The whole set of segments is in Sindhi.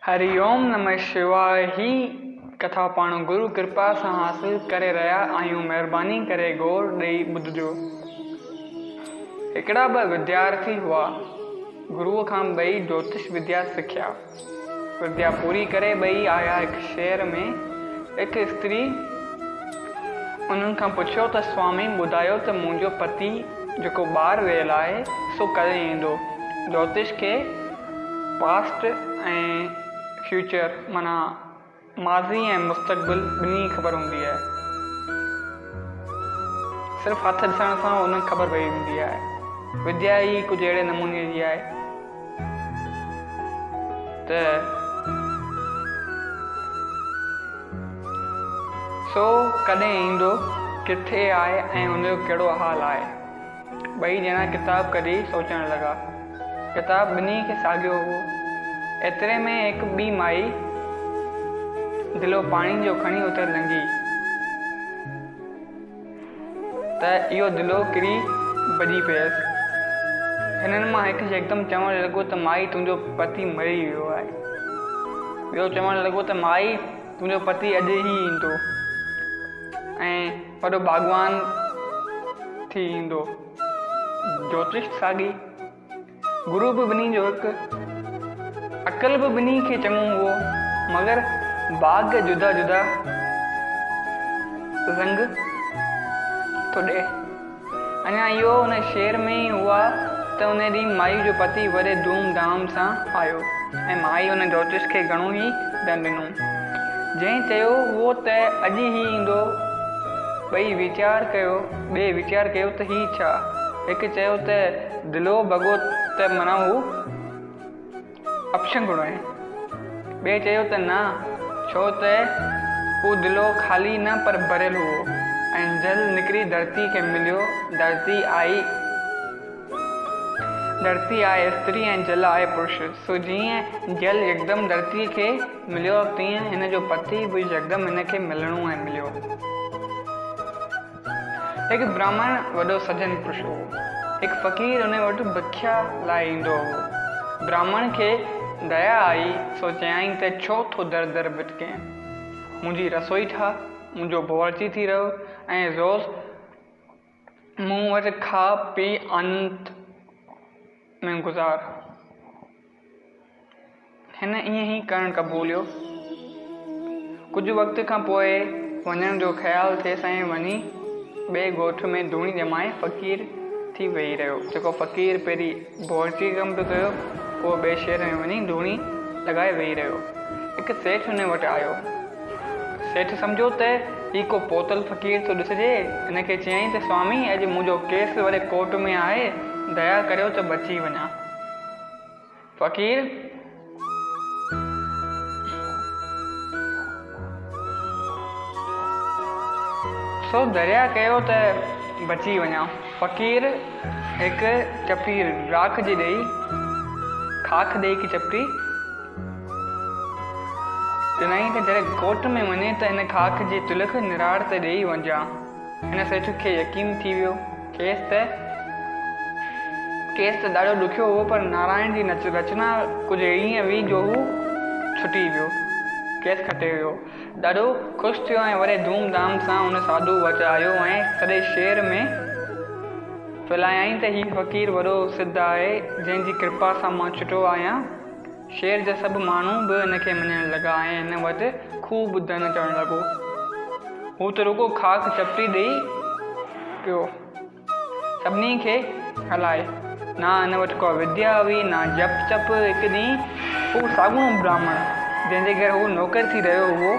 هري اوم نمه شواء هي ڪٿا پاڻ گرو ڪرپا سان حاصل ڪري رهيا آهيون مهرباني ڪري غور ڏئي ٻڌجو هڪڙا ٻه وديارٿي هئا گرو کان ٻئي جوتش وديا سکيا وديا پوري ڪري ٻئي آيا هڪ شهر ۾ هڪ استري انهن کان پڇيو ته سوامي ٻڌايو ته منهنجو پتي جيڪو ٻاهر ويل آهي سو ڪڏهن ايندو جوتش کي پاسٽ ۽ فيوچر معنيٰ ماضي ۽ مستقبل ٻنهي جي خبر هوندي آهي. صرف هٿ ڏسڻ سان انهن کي خبر پئي ويندي آهي. وديا ئي ڪجهه اهڙي نموني جي آهي ته سو ڪڏهن ايندو، ڪٿي آهي ۽ ان جو ڪهڙو حال آهي. ٻئي ڄڻا ڪتاب ڪڍي سوچڻ لڳا. ڪتاب ٻنهي کي ساڳيو هو. ايتري ۾ هڪ ٻي مائي دلو پاڻي جو کڻي اتي لنگهي ته اهو دلو ڪري ڀڄي پيس. هنن مان هڪ يڪدم چوڻ لڳو ته مائي تنهنجو پتي مري ويو آهي. ٻيو چوڻ لڳو ته مائي تنهنجو پتي اڄ ئي ايندو ۽ وڏو باغبان ٿي ايندو. جوتشت ساڳي، گرو به ٻنهي جو هڪ، عقل به ٻنهي کي چڱو هئو، مگر ڀاڳ جدا جدا رنگ ٿو ڏئي. اڃا اهو ان شعر ۾ ئي هئا ته ان ڏينهن مائيء جو پتي وڏي ڌوم ڌام سان آيو ۽ مائيء ان جوتش کي گهڻو ئي ڏنڊ ڏنو. جنهن چيو هئو ته اڄ ئي هي ايندو. ٻئي ويچار ڪيو، ٻئي ويچار ڪيو ته هي ڇا؟ هڪ چيو ته دلو ڀڳو ته منا هو. اپشنگهڙو آهي. ٻئي چيو ته نه، ڇو ته اهو دلو خالي نه پر ڀريل هئو ۽ جل نڪري ڌرتي کي مليو، ڌرتي آهي ڌرتي آهي استري ۽ جل آهي پرش، سو جيئن جل يڪدم ڌرتي کي مليو تيئن هن جو پتي به يڪدم هن کي ملڻو ۽ مليو. هڪ برهمڻ وڏو سجن پرش هو. هڪ فقير ان وٽ ڀکيا لاء ايندو هو. برهمڻ کي ديا آئي سو چيائين ته ڇو ٿو در در ڀٽڪين؟ منهنجي رسوئي ٺاهه، منهنجو باورچي ٿي رهه ۽ روز مون وٽ کاء پي آنند ۾ گذار. هن ائين ئي ڪرڻ قبوليو. ڪجهه وقت کان پوء وڃڻ جو خيال ٿيس ۽ وڃي ٻئي ڳوٺ ۾ ڌوڻي ڄمائي فقير ٿي ويهي رهيو. جيڪو فقير پهرين بورچيء جو ڪم پيو ڪيو، اهو ٻئي شهر ۾ وڃي ڌوڻي لڳائي ويهي رهيو. هڪ سيٺ هن وٽ آيو. سيٺ سمجهيو ته هي ڪو پوتل فقير ٿو ڏسجي. هن کي چيائين ته سوامي اڄ منهنجو ڪيس وڏي ڪورٽ ۾ آهي، ديا ڪريو ته بچي وڃان. فقير سو دريا ڪيو ته بچي وڃان فقير هڪ چپٽي راک جي ڏئي خاڪ ڏئي هڪ چپٽي ڏنائين ته جڏهن ڳوٺ ۾ وڃي ته ان خاڪ جي تلخ نراڙ تي ڏئي وڃجان هن سيٺ کي يقين ٿي ويو. کيس ته کيس ته ڏاڍو ڏکيو هو پر نارائڻ جي رچنا ڪجهه اهڙي ائين هئي جو هو ڇٽي ويو. کيس کٽي ويو. ڏاڍو خوش ٿيو ۽ وڏي ڌوم ڌام سان ان ساڌوء وٽ آيو ۽ سڄي شهر ۾ ڦهلايائين ته هي فقير وڏو سڌ آهي جنهن جي ڪرپا سان مان ڇٽو آهيان. شهر جا سڀ ماڻهو به هن کي مڃڻ لڳا ۽ هن وٽ خوب ڌن چڙهڻ لڳو. هو ته رڳو خاڪ چپٽي ڏئي پيو سڀني کي هلائي. نه هن وٽ ڪا وديا هئي نه جپ تپ. هڪ ڏينهن هو ساڳڻو براهمڻ جنهن جي گهر هو نوڪر ٿي رهيو هئو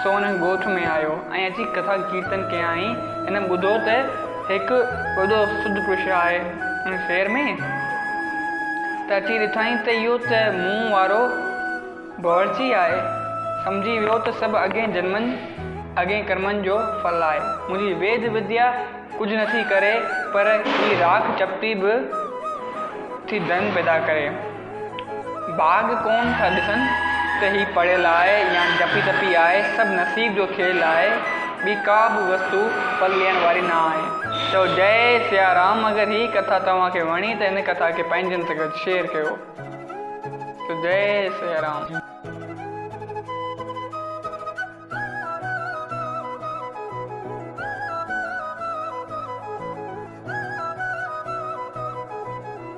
سو هن ڳوٺ ۾ آيو ۽ اچي ڪٿا ڪيرتن ڪيائين. هن ٻڌو ته هڪ وڏو سڌ پرش آهي ان شعر ۾ ته اچي ڏٺائين ته اهو ته مون وارو باورچي آهي، سمجهي ويو ته سڀ اڳين جنمن، اڳين ڪرمن جو ڦل آهي. منهنجي ويد وديا ڪجهه نٿي ڪري پر هي راک چپٽي به ٿي ڌن پيدا ڪري. ڀاڳ ڪون ٿا ڏسن ته هي پڙهيل آهي يا ڊپي ٽپي آهي، سڀ نصيب جو کيل آهي، ٻي ڪا به وستو ڦل ڏيڻ واري نه آهي. چئو جئي سيا رام اگر هي ڪٿا توهان کي وڻي ته هن ڪٿا کي پنهنجن سان گڏ شيئر ڪيو. چئو جئي سيا رام.